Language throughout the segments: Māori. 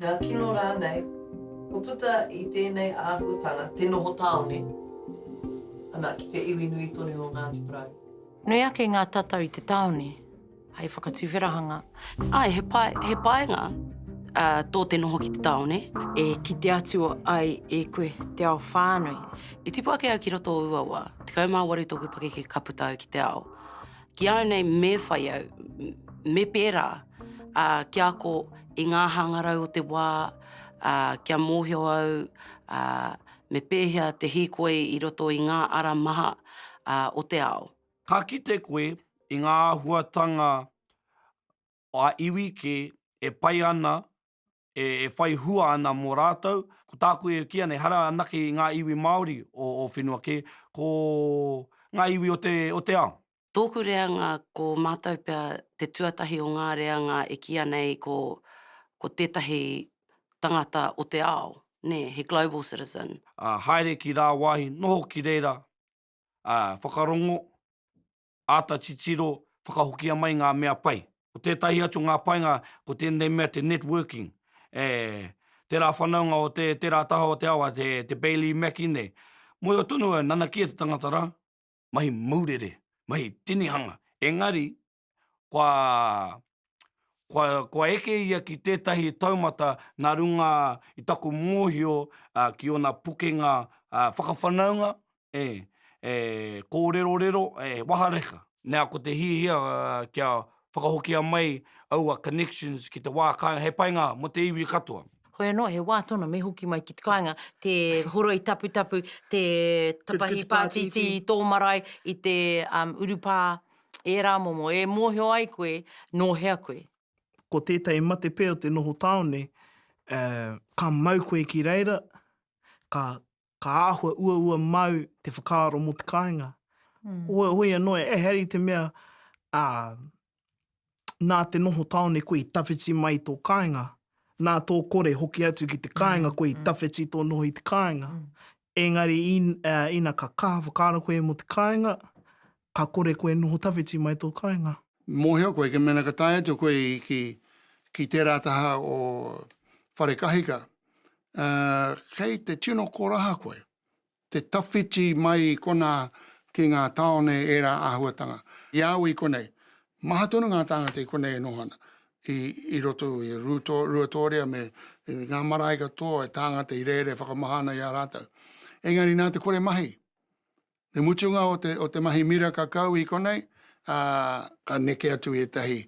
Ngā kino rānei, kua puta i tēnei āhuatanga te noho tāone ana ki te iwi nui tonu o Ngāti Porou. Nui ake ngā tatau i te tāone hei whakatuwherahanga. Āe, he pai, he painga tō te noho ki te tāone e kite atu ai e koe te ao whānui. I tipu ake au ki roto o Uawa, 18 tōku pakeke ka puta au ki te ao. Ki au nei, me whai au, me pērā ki a ko i ngā hangarau o te wā, kia mōhio au me pēhea te hīkoi i roto i ngā ara maha o te ao. Ka kite koe i ngā āhuatanga a iwi kē e pai ana e whai hua ana mō rātou. Ko tāku e kīia nei, ehara anake i ngā iwi Māori o ō whenua kē, ko ngā iwi o te, o te ao. Tōku reanga ko mātou pea te tuatahi o ngā reanga e kīia nei ko, ko tētahi tangata o te ao, nē, he global citizen. Ā, haere ki rāwāhi, noho ki reira, ā, whakarongo, āta titiro whakahokia mai ngā mea pai. Ko tētahi atu o ngā painga ko tēnei mea te networking, e tērā whanaunga o tērā taha o te awa, te Bailey Mackie nei. Mōhio tonu au, nanakia te tangata rā. Mahi maurere, mahi tinihanga, engari kua kua, kua eke ia ki tētahi taumata nā runga i taku mōhio uh, ki ōna pukenga uh, whakawhanaunga, e, e kōrerorero, e wahareka. Nā, ko te hiahia uh, kia whakahokia mai aua connections ki te wā kāinga, he painga mō te iwi katoa. Hoi anō, he wā tonu me hoki mai ki te kāinga, te horoi taputapu, te tapahi pātiti i tō marae, i te um, urupā, ērā momo e mōhio ai koe nō hea koe. Ko tētahi matepē o te noho tāone, ka mau koe ki reira, ka āhua uaua māu te whakaaro mō te kāinga. Hoi anō, ehara i te mea nā te noho tāone koe i tawhiti mai i tō kāinga, nā tō kore hoki atu ki te kāinga koe i tawhiti tō noho i te kāinga. Engari ina ka kaha whakaaro koe mō te kāinga, Ka kore koe e noho tawhiti mai tō kāinga. Mōhio koe, ka mena ka tae atu koe ki, ki tērā taha o Wharekahika, ā, kei te tino koraha koe, te tawhiti mai konā ki ngā tāone ērā āhuatanga. I a au i konei, maha tonu ngā tāngata i konei e noho ana, i, i roto i Rūtō, Ruatōria me ngā marae katoa, tāngata i rere whakamaha ana i a rātou. Engari nā te kore mahi, Te mutunga o te, o te mahi miraka kau i konei, ā. Ka neke atu ētahi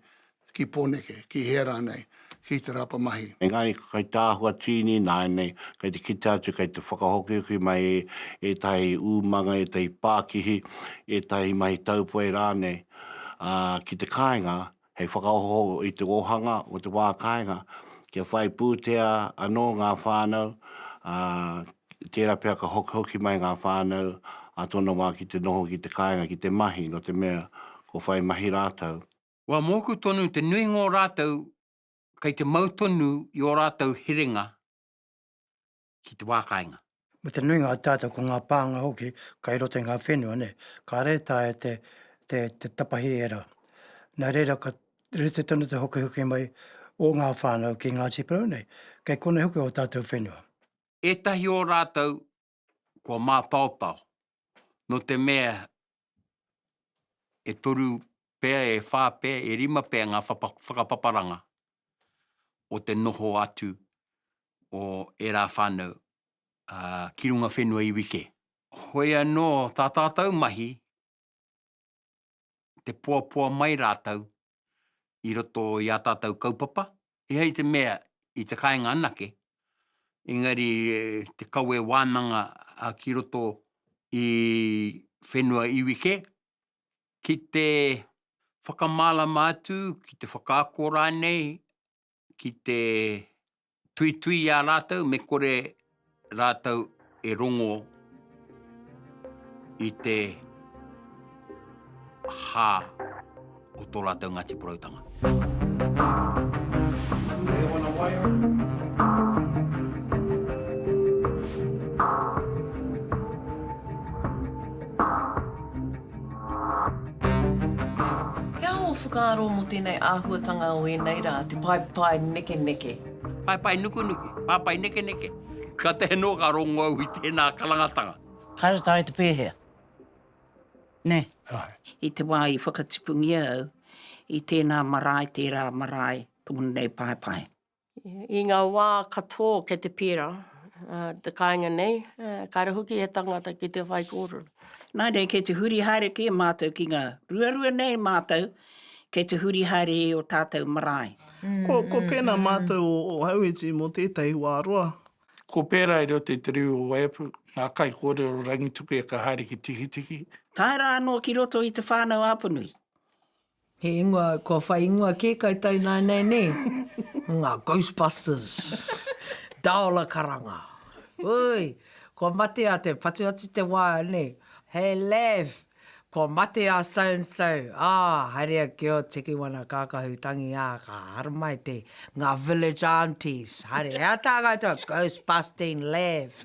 ki Pōneke, ki hea rānei, ki te rapa mahi. Engari ko Kaitahua Tiini nāianei kei te kite atu kei te whakahokihoki mai i ētahi umanga, ētahi pākihi, ētahi mahi taupoe rānei, ā, ki te kāinga, hei whakaoho i te ōhanga o te wā kāinga, kia whai pūtea anō ngā whānau, ā, tērā pea ka hokihoki mai ngā whānau a tōna wā ki te noho ki te kāinga ki te mahi, nō te mea, kua whai mahi rātou. Kua mōku tonu te nuinga o rātou kei te mau tonu i ō rātou herenga, ki te wā kāinga. Me te nuinga o tātou ko ngā pānga hoki kai roto i ngā whenua nei, kāre e taea te, te, te tapahi ērā. Nā reira ka rite tonu te hokihoki mai o ngā whānau ki Ngāti Porou nei, kei konei hoki o tātou whenua. Ētahi o rātou kua mātaotao, nō te mea e toru pea, e whā pea, e rima pea ngā whakapaparanga o te noho atu o ērā whānau ki runga whenua iwi kē. Hoi anō tā tātou mahi, te poapoa mai rātou i roto i ā tātou kaupapa, he hei te mea i te kāinga anake, engari te kawe wānanga ki roto i whenua iwi kē, ki te whakamārama atu, ki te whakaako rānei ki te tuitui i a rātou me kore rātou e rongo i te hā o tō rātou Ngāti Poroutanga. He aha ō whakaaro mō tēnei āhuatanga o ēnei rā, te paepae nekeneke? Paepae nukunuku, paepae nekeneke. Ka taea noa ka rongo au i tēnā karangatanga. Kāre tae te pēhea, nē? Kāre. I te wā i whakatipungia au i tēnā marae, tērā marae, tōna nei paepae. I ngā wā katoa o kei te pērā te kāinga nei, kāre hoki he tangata ki te whaikōrero. Nā reira, kei te huri haere kē mātou ki ngā ruarua nei mātou, kei te huri haere i ō tātou marae. Ko pēnā mātou o Ōhauiti mō tētahi wā roa. Ko pērā i roto i te riri o Waiapu, ngā kaikōrero o Rangitukia ka haere ki Tikitiki. Tae rā anō ki roto i Te Whānau-a-Apanui. He ingoa, kua whai ingoa kē kai Tainainai nē? Nga Ghostbusters! Daola Karanga! Ui! Kua mate a te, patu atu te wā nē, He laugh! Kua mate a so and so! Ā, haere ake ō Tiki Wana Kākahu tangi ā, ka haramai te, Nga Village Aunties! Haere, hea tā koutou? Ghostbusting laugh!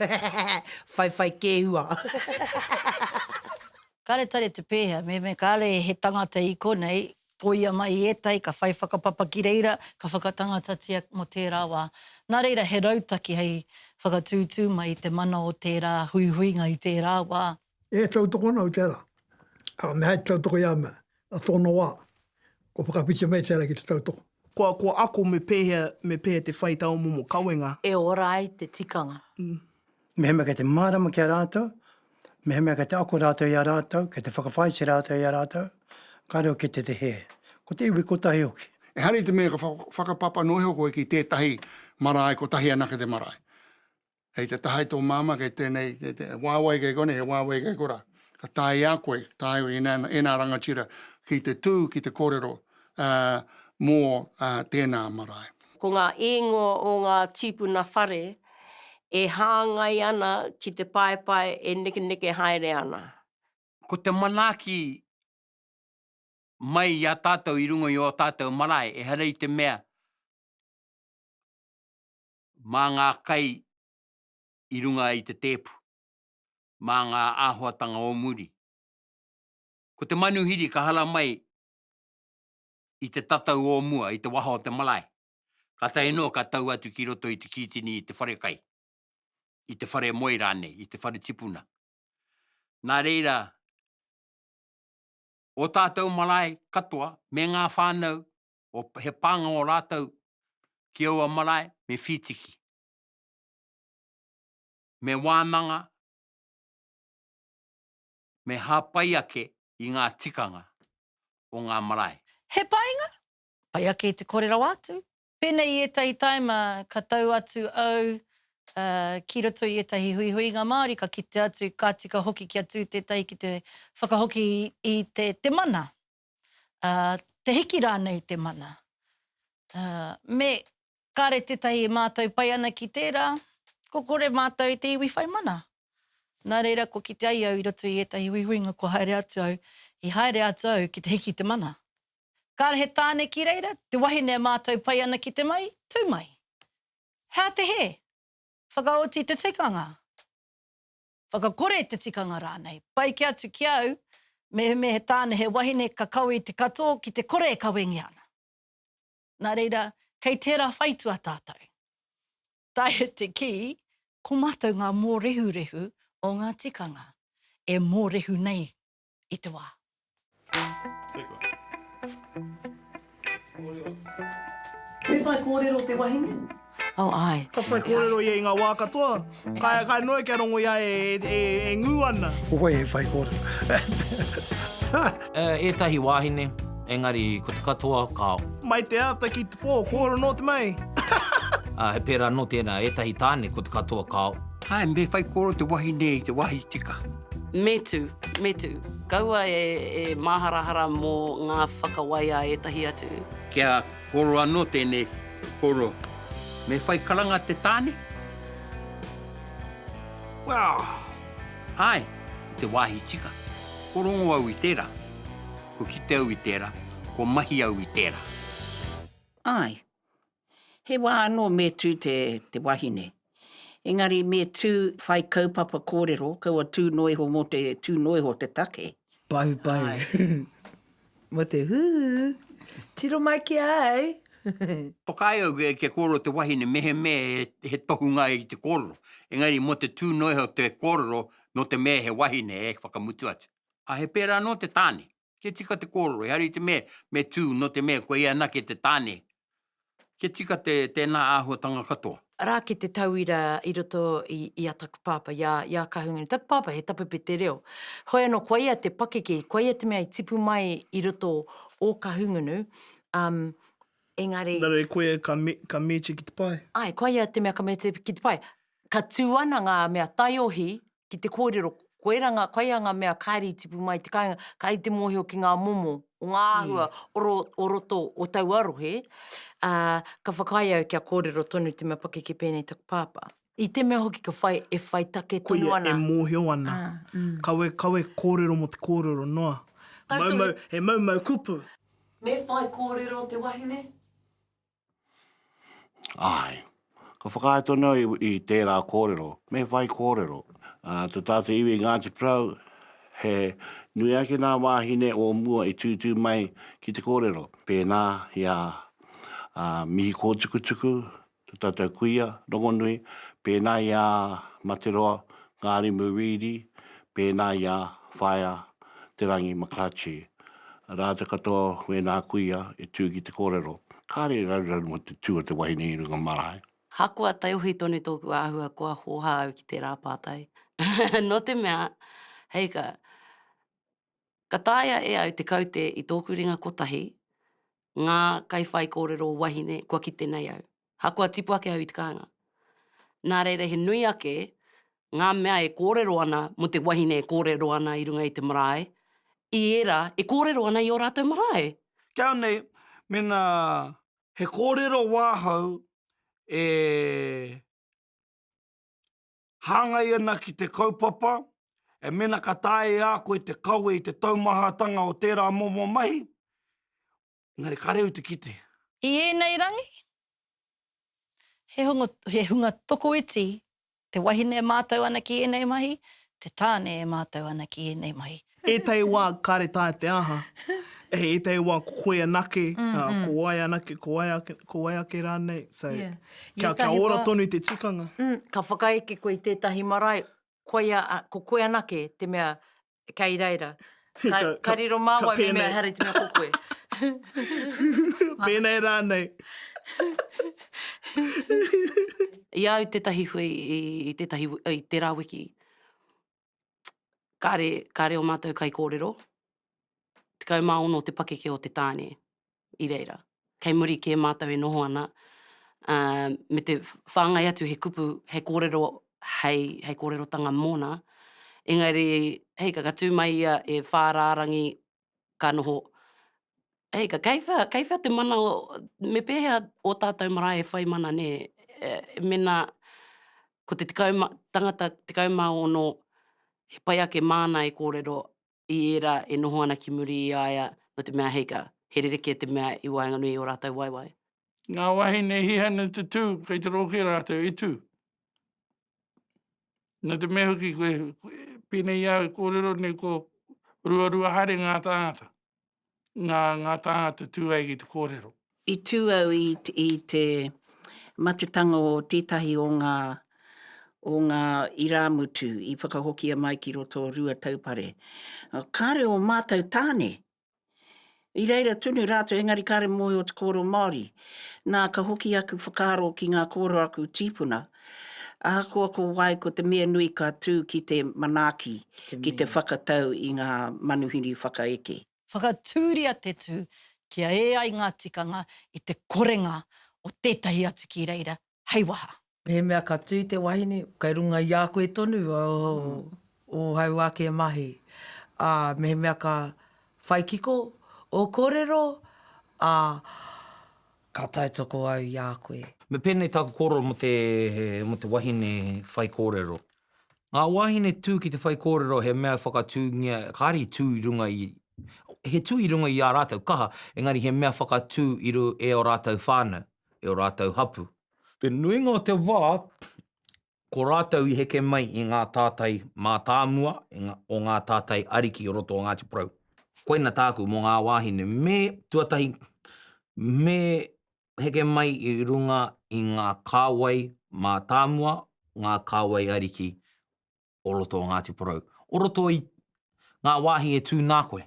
Whaiwhai kēhua! Kāre tare te pēhea, me me kāre he tangata i konei, tōia mai i ētahi, ka whai whakapapa ki reira, ka whakatangatatia mō tērā wā. Nā reira, he rautaki hei whakatūtū mai i te mana o tērā huihuinga i tērā wā. E tautoko ana au tērā, ā, me hai te tautoko i a mea, A tōna wā, kua whakawhiti mai te ara ki te tautoko. Kua, kua ako me pēhea, me pēhea te whai tā ō momo kawenga. E ora ai te tikanga. Mehemea kei te mārama ki a rātou, mehemea kei te ako rātou i a rātou, kei te whakawhāiti rātou i a rātou, kāore au ki te te hē. Ko te iwi kotahi hoki. Ehara i te mea ka whakapapa noa iho koe ki tētahi marae kotahi anake te marae. Hei te taha i tō māmā kei tēnei, kei te, he wāwai kei konei, he wāwai kei kora. Ka tae i a koe, ka tae i nā, e nā rangatira, ki te tū, ki te kōrero uh, mō uh, tēnā marae. Ko ngā īngoa o ngā tīpuna whare e hāngai ana ki te paepae e nekeneke haere ana. Ko te manaaki mai i a tātou i runga i ō tātou marae, ehara i te mea mā ngā kai i runga i te tēpu, mā ngā āhuatanga o muri. Ko te manuhiri ka hara mai i te tatau o mua, i te waha o te marae, kātahi noa ka tau atu ki roto i te kītini i te wharekai, i te whare moe rānei, i te whare tipuna. Nā reira, ō tātou marae katoa, me ngā whānau, he pānga o rātou ki aua marae me whītiki, me wānanga, me hāpai ake i ngā tikanga o ngā marae. He painga? Pai ake te kore rawa atu. Pēnei i ētahi taima ka tau atu au ki roto i ētahi huihuinga Māori ka kite atu ka tika hoki kia tū tētahi ki te whakahoki i te mana. ā, te hiki rānei i te mana, ā, me kāre tētahi e mātau pai ana ki tērā, kua kore mātau i te iwi whai mana. Nā reira, kua kite ai au i roto i ētahi huihuinga kua haere atu au, i haere atu au ki te hiki i te mana. Kāre he tāne ki reira, te wahine e mātau pai ana ki te mai, tū mai. Hea te hē? Whakaoti te tikanga. whakakore te tikanga rānei. Pai kē atu ki a au, mehemea he tāne, he wahine ka kawe i te katoa ki te kore e kawengia ana. Nā reira, kei tērā whaitua tātou. Taea te kī, ko mātou ngā mōrehurehu o ngā tikanga e mōrehu nei i te wā. Me whai kōrero te wahine? Oh, āe. Ka whai kōrero ia i ngā wā katoa. Kai, kai noa kia rongo ia e, e, e ngū ana. Ko wai he whai kōrero? Ētahi wāhine, engari ko te katoa ka. Mai te ata ki te pō, kōrero nō te mei. He pērā nō tēnā, ētahi tāne ko te katoa ka. Āe, me whai kōrero te wahine i te wāhi tika. Me tū, me tū. Kaua e māharahara mō ngā whakawai a ētahi atu. Kia koro anō tēnei koro. Me whai karanga te tāne? Wow! Āe, i te wāhi tika. Ko rongo au i tērā. Ko kite au i tērā. Ko mahi au i tērā. Āe, He wā anō me tū te wahine. Engari me tū whai kaupapa kōrero, kaua tū noa iho mō te tū noa iho te take. Paupau. Mō te huhu. Tiro mai ki a au. Whakaae au kia kōrero te wahine mehemea he tohunga i te kōrero. Engari mō te tū noa iho te kōrero nō te mea he wahine e whakamutu atu. He pērā anō te tāne. Kia tika te kōrero, he hari te mea me tū nō te mea koia anake te tāne. Kia tika te tēnā āhuatanga katoa. Arā ki te tauira i roto i a taku pāpā, i a, i a Kahungunu. Taku pāpā he tapupe te reo. Hoi anō, kua ia te pakeke, kua ia te mea i tipu mai i roto o Kahungunu, um, engari. Engari e koia ka, ka mīti ki te pae. Ai, kua ia te mea ka mīti ki te pae. Ka tū ana ngā mea taiohi. ki te kōrero, koira ngā, koia ngā mea kāre i tipu mai i te kāinga, kāre te mōhio ki ngā momo o ngā āhua o ro, o roto o taua rohe, ā, ka whakaae au kia kōrero tonu te mea pakeke pēnei taku pāpā. I te mea hoki ka whai, e whai take tonu Koia, ana. e mōhio ana. Kawe, kawe kōrero mō te kōrero noa. Tautoko Mau, he. mau, he mau, mau kupu. Me whai kōrero te wahine? Āe. Ka whakaae tonu au i tērā kōrero, me whai kōrero. Tō tātou iwi i Ngāti Porou, he nui ake nā wāhine o mua i tūtū mai ki te kōrero. Pēnā i a Mihi Kōtukutuku, tō tātou kuia rongonui, pēnā i a Materoa Ngārimu Reedy, pēnā i a Whaea Te Rangi Makache. Rātou katoa wēnā kuia e tū ki te kōrero, kāre e raruraru mō te tū o te wahine i runga marae. Ahakoa taiohi tonu tōku āhua kua hōhā au ki tērā pātai, nō te mea, hei ka, ka taea e au te kaute i tōku ringa kotahi, ngā kaiwhaikōrero wahine kua kite nei au. Ahakoa tipu ake au i te kāinga. Nā reira he nui ake ngā mea e kōrero ana mō te wahine e kōrero ana i runga i te marae, i ērā e kōrero ana i ō rātou marae. Kia nei, mēnā he kōrero wāhau e hāngai ana ki te kaupapa, e mena ka taea e a koe te kawe i te taumahatanga o tērā momo mahi, engari kāre au te kite. I ēnei rangi, he hunga tokoiti te wahine e mātau ana ki ēnei mahi, te tāne e mātau ana ki ēnei mahi. Ētahi wā kāre taea te aha, hei ētahi wā ko koe anake, ko wai anake, ko wai ake, ko wai ake rānei. So, kia, kia ora wā... tonu te tikanga. Mm, ka whakaeke koe i tētahi marae, koia, ko koe anake te mea kei reira. Ka, ka, ka riro mā wai me mea hare te mea ko koe. Pēnei rānei. I au tētahi hui i, i tētahi, i tērā wiki, kāre, kāre o mātou kai kōrero, tekau mā ono te pakeke o te tāne i reira. Kei muri kē mātou e noho ana, ā, me te whāngai atu he kupu, he kōrero hei, hei kōrerotanga mōna, engari, hei, ka, ka tū mai ia e whā rārangi ka noho, hei, ka kei whea, kei whea te mana o, me pēhea ō tātou marae e whai mana nē, mēnā ko te tekau ma, tangata tekau mā ono, he pai ake māna e kōrero i ērā e noho ana ki muri i a ia, nō te mea, hei, ka, he rerekē te mea i waenganui i ō rātou waewae. Ngā wāhine hihanu tutū kei te rōke rātou i tū. Nō te mea hoki koe, pēnei au e kōrero nei ko ruarua haere ngā tāngata, ngā, ngā tāngata tū ai ki te kōrero. I tū au i, i te matutanga o tētahi o ngā, o ngā irāmutu i whakahokia mai ki roto o Ruataupare. Kāore ō mātou tāne I reira tunu rātou engari kāre mōhio te kōrero Māori. Nā, ka hoki aku whakaaro ki ngā kōrero a aku tīpuna. Ahakoa ko wai, ko te mea nui ka tū ki te manaaki, ki te whakatau i ngā manuhiri whakaeke. Whakatūria te tū kia ē ai ngā tikanga i te korenga o tētahi atu ki reira, hei waha. Mehemea ka tū te wahine, kei runga i a koe tonu ō hau ake mahi. Ā, mehemea ka whai kiko ō kōrero, ā, ka tautoko au i a koe. Me pēnei tāku kōrero mō te, mō te wahine whaikōrero. Ngā wāhine tū ki te whaikōrero he mea whakatūngia, kāre i tū i runga i, he tū i runga i ā rātou kaha, engari he mea whakatū i ru, e ō rātou whānau. i ō rātou hapū. Te nuinga o te wā, ko rātou i heke mai i ngā tātai mātāmua o ngā tātai ariki o roto o Ngāti Porou. Koina tāku mō ngā wāhine, me, tuatahi, me heke mai i runga i ngā kāwai mātāmua, ngā kāwai ariki o roto o Ngāti Porou, o roto i ngā wāhi e tū nā koe.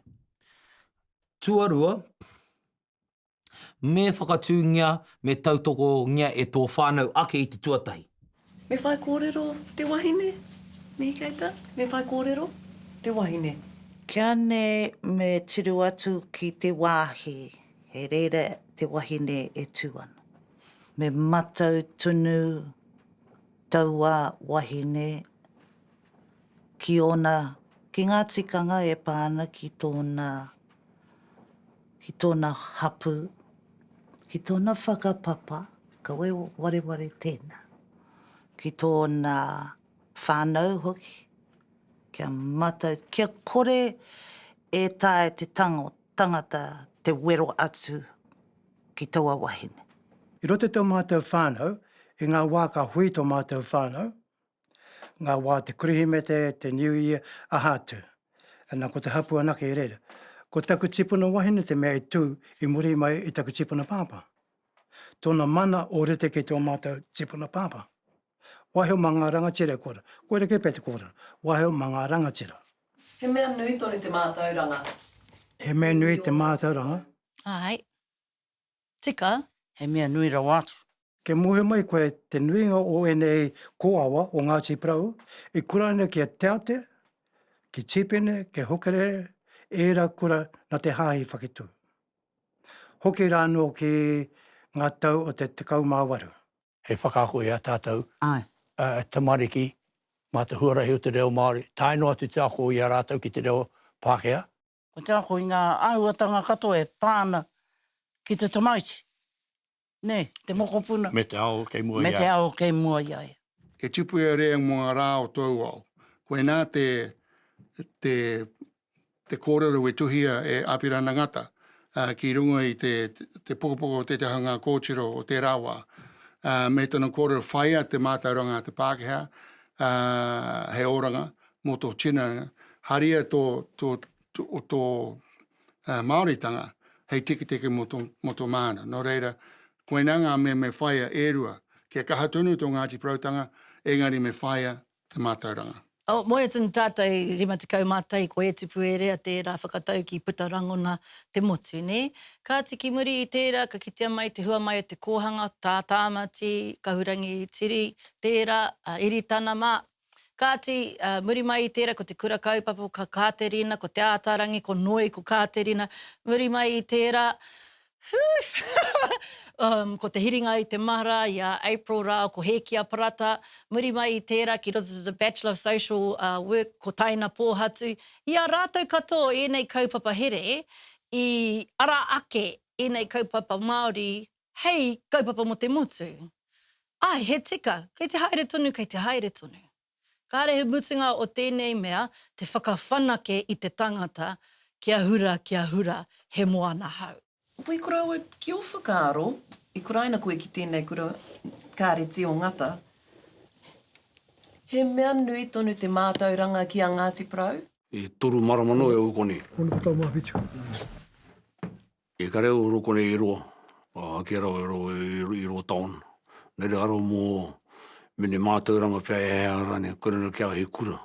Tuarua, me whakatūngia, me tautokongia e tō whānau ake i te tuatahi. Me whai kōrero te wahine, Mihi Keita, me whai kōrero te wahine. Kia nei me tiru atu ki te wāhi he reira te wahine e tū ana. Me matau tunu Taua wahine ki ōna, ki ngā tikanga e pā ana ki tōna, ki tōna hapū, ki tōna whakapapa, kaua e wareware tēnā, ki tōna whānau hoki, kia matau, kia kore e taea te tangata te wero atu ki taua wahine. I roto i tō mātou whānau, i ngā wā ka hui tō mātou whānau, ngā wā te Kerehimete, te New Year, aha atu. Ana, ko te hapū anake i reira. Ko taku tipuna wahine te mea i tū i muri mai i taku tipuna pāpā. Tōna mana o rite ki tō mātou tipuna pāpā. Waheo mā ngā rangatira e kōrero. Koirā kē pea te kōrero, waheo mā ngā rangatira. He mea nui tonu te mātauranga. He mea nui te mātauranga. Āe. Tika. He mea nui rawa atu. Kia muhe mai koe te nuinga o ēnei kōawa o Ngāti Porou i kura ana ki a Te Ate, ki Tīpene, ki Hukarere, ērā kura nā te Hāhi Whaketū. Hoki rānō ki ngā tau o te 18. hei whakaako i a tātou tamariki mā te huarahi o te reo Māori, tae noa atu te ako i a rātou ki te reo Pākehā. Ko te ako i ngā āhuatanga katoa e pā ana ki te tamaiti, nē, te mokopuna, me te ao kei mua i a ia. He tupu e rere mō ngā rā o tōu ao. Koinā te te kōrero i tuhia e Apirana Ngata ki runga i te pokopoko o Te Te Haunga Kōtiro o tērā wā. Me tana kōrero whaia te mātauranga a te Pākehā, he oranga mō tō tinana, haria tō Māoritanga hei tiketike mō tō māna. Nō reira, koinā ngā mea me whaia e rua. Kia kaha tonu tō Ngāti Poroutanga, engari me whaia te mātauranga. O moea tonu tātou rima tekau mā tai ko Ētipu Erea tērā whakatauki puta rangona te motu, nē? Kāti ki muri i tērā ka kitea mai te hua mai o te kōhanga tā Tāmati, Kahurangi Tiri, tērā, a Iritana mā. Kāti, muri mai i tērā ko te kura kaupapa ko Kāterina, ko Te Ātaarangi, ko Noi, ko Kāterina, muri mai i tērā Whuu! Ko te hiringa i te mahara i a April rā ko Hēkia Parata, muri mai i tērā ki roto to the Bachelor of Social Work ko Taina Pōhatu. I a rātou katoa ēnei kaupapa here i ara ake ēnei kaupapa Māori hei kaupapa mō te motu. Āe, he tika, kei te haere tonu, kei te haere tonu. Kāre he mutunga o tēnei mea te whakawhanake i te tangata kia hura, kia hura, he moana hau. Opa i korau au ki o whakaaro i kuraina koe ki tēnei kura kāre tio ngata he mea nui tonu te mātauranga ki a Ngāti Porou? E toru marama noa e ou konei. Ona te tau mā whitu. I kare au i roko nei i roa, ake rawa i roa i roa taon, na re aro mo mene matauranga pea e hea rane, kore no kia he kura,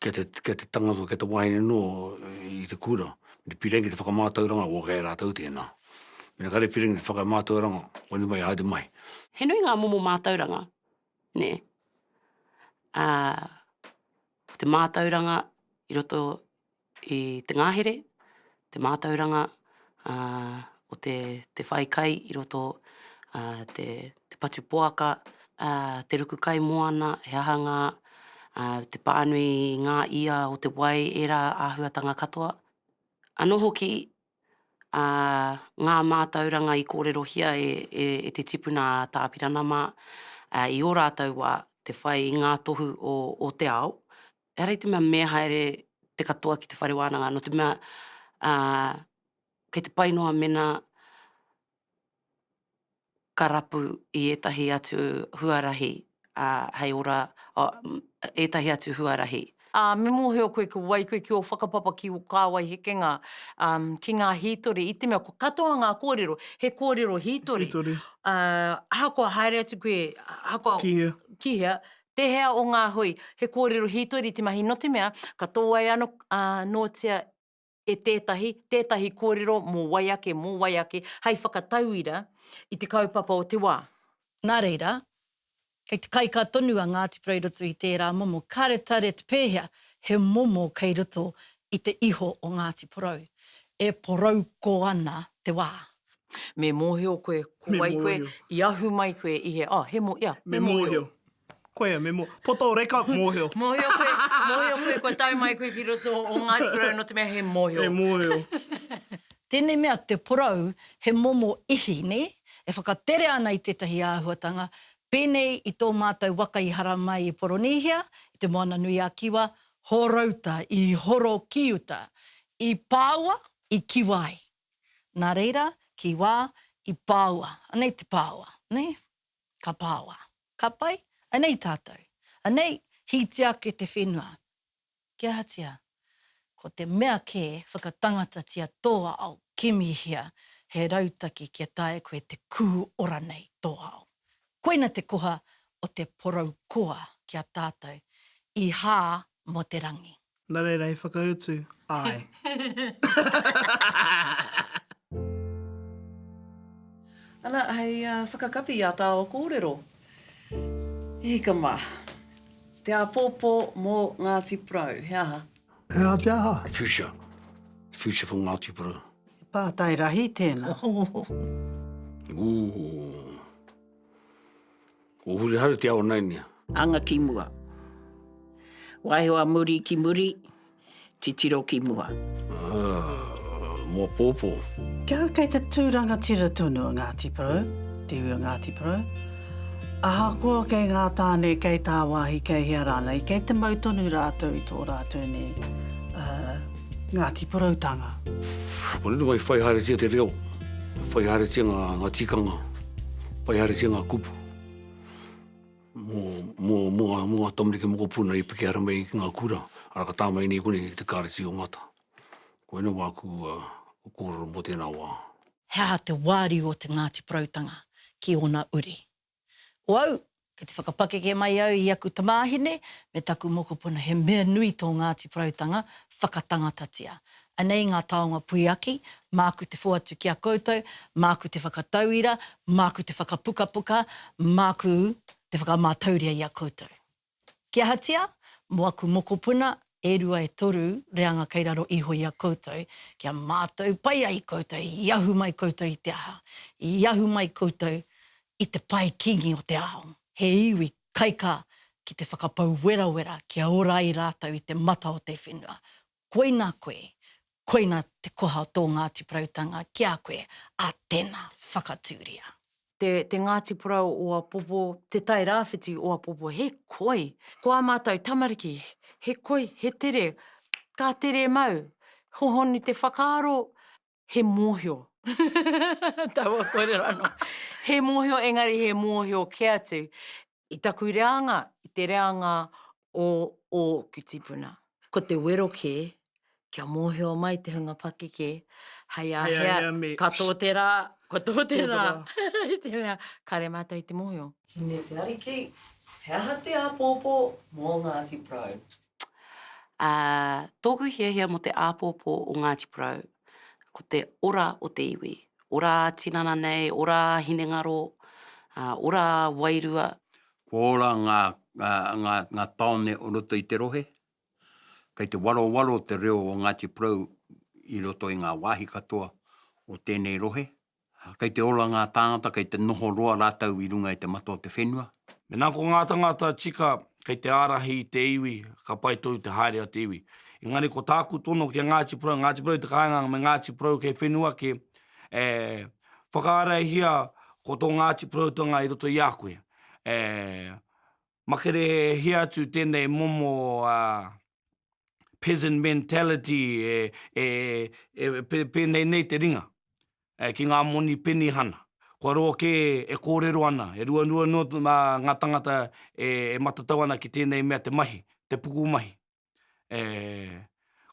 kia te, kia te tangata, kia te wahine no i te kura, i piri ki te whakamatauranga, o kei a ratou tena. Mena kare piri ki te whakamatauranga, whanu mai haere mai. He nui nga momo matauranga, ne, a ko te matauranga i roto i te ngahere, te mātauranga o te te whai kai i roto, te te patu poaka, te ruku kai moana, he aha ngā te pānui i ngā ia o te wai, ērā āhuatanga katoa. Anō hoki ngā mātauranga i kōrerohia e te tipuna a Tāpirana mā i ō rātou wā te whai i ngā tohu o te ao, ehara i te mea me haere te katoa ki te whare wānanga, nō te mea, kei te pai noa mena ka rapu i ētahi atu huarahi hei ora, ētahi atu huarahi. Ā, me mōhio koe ki wai koe ki ō whakapapa ki ō kāwai hekenga ki ngā hītori, i te mea ko katoa ngā kōrero, he kōrero hītori. Hītori. Ahakoa haere atu koe, ahakoa. Ki hea. Ki hea, Tēhea o ngā hui, he kōrero hītori te mahi nō te mea, ka tōai ano nōtia e tētahi, tētahi kōrero mō wai ake, mō wai ake, hei whakatauira i te kaupapa o te wā. Nā reira, kei te kaikā tonu a Ngāti Porou i roto i tērā momo karetareta pēhea he momo kei roto i te iho o Ngāti Porou, e porouko ana te wā. Me mōhio koe, ko wai koe, i ahu mai koe i he, oh, he mō, ia, me mōhio. Koia, me mō, poto reka, mōhio. Mōhio koe, mōhio koe, kua tau mai koe ki roto o Ngāti Porou, nō te mea he mōhio. He mōhio. Tēnei mea te porou, he momo ihi, nē, e whakatere ana i tētahi āhuatanga, pēnei i tō mātou waka i haramai i Poronīhia, i Te Moana-nui-a-Kiwa, Horouta, i horo ki uta, i pāua, i kiwa ai. Nā reira, ki wā, i pāua, anei te pāua, nē? Ka pāua. Ka pai? Anei tātou. Anei, hītia ake te whenua. Ki ahatia? Ko te mea kē, whakatangatatia tō ao, kimihia he rautaki kia taea koe te kū ora nei tō ao. Koina te koha o te porou koa ki a tātou, i hā mō te rangi. Na reira i whakautu, Ae. Ana, hei whakakapi i a tāua kōrero. He hika mā. Te āpōpō mō Ngāti Porou, he aha? He aha te aha? The future. The future for Ngāti Porou. He pātai rahi tēnā. Ooh. Ko Hurihari te aonainia. Anga ki mua. Waeho a muri ki muri, titiro ki mua. Ah, mo popo. Kia kei te tū rangatira tonu a Ngāti Porou, te iwi o Ngāti Porou, ahakoa kei ngā tāne, kei tāwāhi, kei hea rānei, kei te mau tonu rātou i tō rātou nei, uh, Ngāti Porou tanga. Kore mai whai haeretia te reo, whai haeretia nga nga tikanga, whai haeretia nga kupu. Mo mo mo nga mo nga tamariki mokopuna i piki ara mai ki nga kura, ara ka tamai nei kore te kareti o ngata. Koe no wa ku a koro mo tena wa. He aha te wari o te Ngāti Porou tanga ki ona uri? Ko au, kei te whakapakeke mai au i aku tamāhine me taku mokopuna he mea nui tō Ngāti Porautanga whakatangatatia. Anei ngā taonga puiaki, māku te whoatu ki a koutou, māku te whakatauira, māku te whakapukapuka, māku te whakamātauria i a koutou. Ki ahatia? Mo aku mokopuna e rua e toru reanga kei raro iho i a koutou, kia matou pai ai koutou, i ahu mai koutou i te aha? I ahu mai koutou i te pae kingi o te ao, he iwi kaikā ki te whakapau werawera kia ora ai ratou i te mata o te whenua, Koina koe, koina te koha o tō Ngāti Porautanga ki a koe, ā, tēnā, whakatūria. Te, te Ngāti Porou o Apopo, Te Tai Rāwhiti o Apopo, he koi! Ko ā mātou tamariki, he koi, he tere, ka tere mau, hohonu te whakaaro, he mōhio. Taua kōrero anō. He mōhio, engari he mōhio kē atu i taku reanga, i te reanga o ōku tipuna. Ko te wero kē, kia mōhio mai te hunga pakeke, hei a hea, ka tō te rā, ka tō te rā, i te mea, kāre mātou i te mōhio. Ki me te Ariki, he aha te āpōpō mō Ngāti Porou? Ā, tōku hiahia mō te āpōpō o Ngāti Porou, ko te ora o te iwi, ora ā-tinana nei, ora ā-hinengaro, ā, ora ā-wairua. Kua ora ngā, ngā, ngā, ngā tāone o roto i te rohe. Kei te warowaro te reo o Ngāti Porou i roto i ngā wāhi katoa o tēnei rohe. Ā, kei te ora ngā tāngata, kei te noho roa rātou i runga i te mata o te whenua. Mēnā ko ngā tāngata tika kei te ārahi i te iwi, ka pai tonu te haere a te iwi. Engari ko tāku tono ki a Ngāti Porou, Ngāti Porou i te kāinga me Ngāti Porou kei whenua kē, e whakaarahia ko tō Ngāti Poroutanga i roto i a koe. E. Makarehia atu tēnei momo peasant mentality e pēnei nei te ringa ki ngā moni penihana. Kua roa kē e kōrero ana, e ruarua noa ngā tangata e matatau ana ki tēnei mea te mahi, te pukumahi.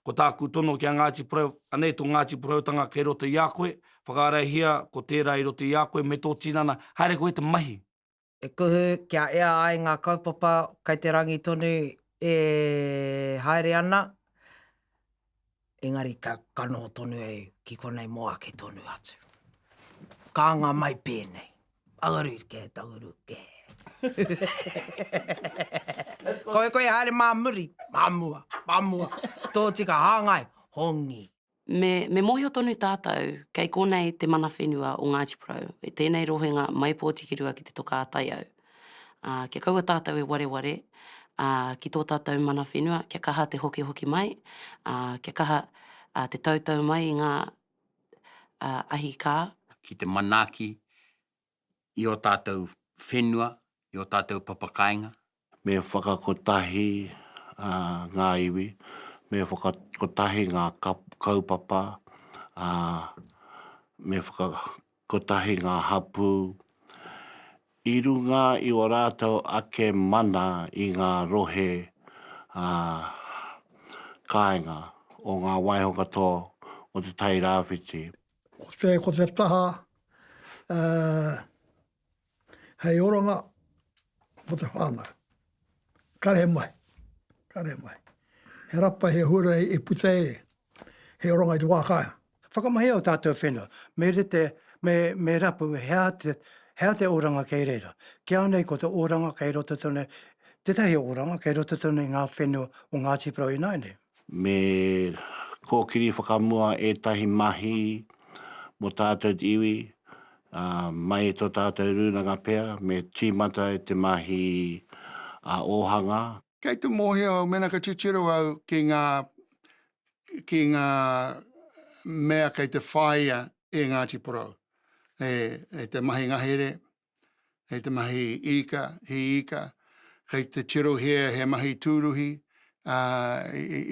Ko tāku tono ki a Ngāti Porou, anei tō Ngāti Poroutanga kei roto i a koe, whakaarahia ko tērā i roto i a koe me tō tinana, haere koe te mahi. e kuhu kia ea ai ngā kaupapa kei te rangi tonu e haere ana, engari ka noho tonu au ki konei mō ake tonu atu. Ka anga mai pēnei, Auru kē, Auru kē. Koe koe haere mā muri, mā mua, mā mua, tōtika hāngai, hongi. Me, me mōhio tonu tātou, kei konei te mana whenua o Ngāti Porou, i tēnei rohenga mai Pōtikirua ki te toka a Taiau. Ā, kia kaua tātou e wareware, ā, ki tō tātou mana whenua, kia kaha te hokihoki mai, ā, kia kaha, ā, te tautau mai i ngā, ā, ahi kā. Ki te manaaki, i ō tātou whenua, i ō tātou papakāinga. Me whakakotahi ngā iwi, me whakakotahi ngā kaupapa, me whakakotahi ngā hapū i runga i ō rātou ake mana i ngā rohe kāinga o ngā waiho katoa o Te Tai Rāwhiti. Ko te, ko te taha, uh, hei oranga mo te whānau. Kare mai, kare mai. He rapa, he hura e puta e, he oranga i te wākāinga. Whakamahia o tātou whenua, me rite, me, me rapu he aha te, he aha te oranga kei reira. Ki au nei ko te oranga kei roto tonu, tētahi oranga kei roto tonu i ngā whenua o Ngāti Porou ināianei. Me kōkiri whakamua ētahi mahi mō tātou iwi, ā, mai i tō tātou rūnanga pea, me tīmata e te mahi ā-ōhanga. Kei te mōhio au mēnā ka titiro au ki ngā, ki ngā mea kei te whāia e Ngāti Porou, e te mahi ngahere, Kei te mahi ika, he ika, kei te tirohia he mahi tūruhi, ā,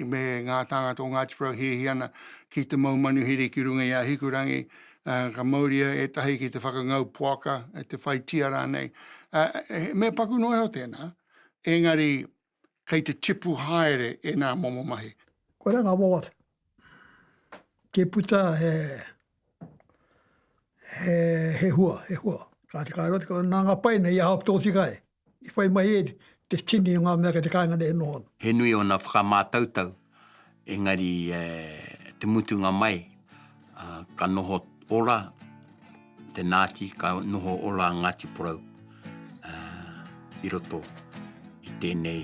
me ngā tāngata o Ngāti Porou hiahia ana ki te mau manuhiri ki runga i a Hikurangi, ā, ka mauria ētahi ki te whakangau poaka, te whai tia rānei. Ā, he mea paku noa iho tēnā, engari kei te tipu haere ēnā momo mahi. Kua ranga wawata. Kia puta he, he, he hua, he hua. Kāti ka roti, nā ngā paina i aha ki tō tika e. I whai mai e te tini o ngā mea kei te kāinga nei e noho ana. He nui ōna whakamātautau Engari e te mutunga mai, ka noho ora te Nāti, ka noho ora a Ngāti Porou i roto i tēnei,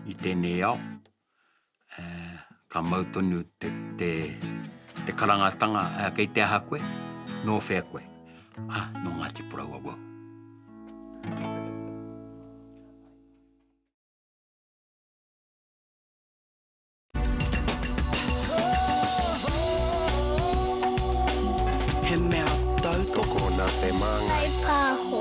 i tēnei ao. Ka mau tonu te, te, te karangatanga, kei te aha koe, nō whea koe? Ah, nō Ngāti Porou awau. He mea tautoko nā te māngai. Kai pāho.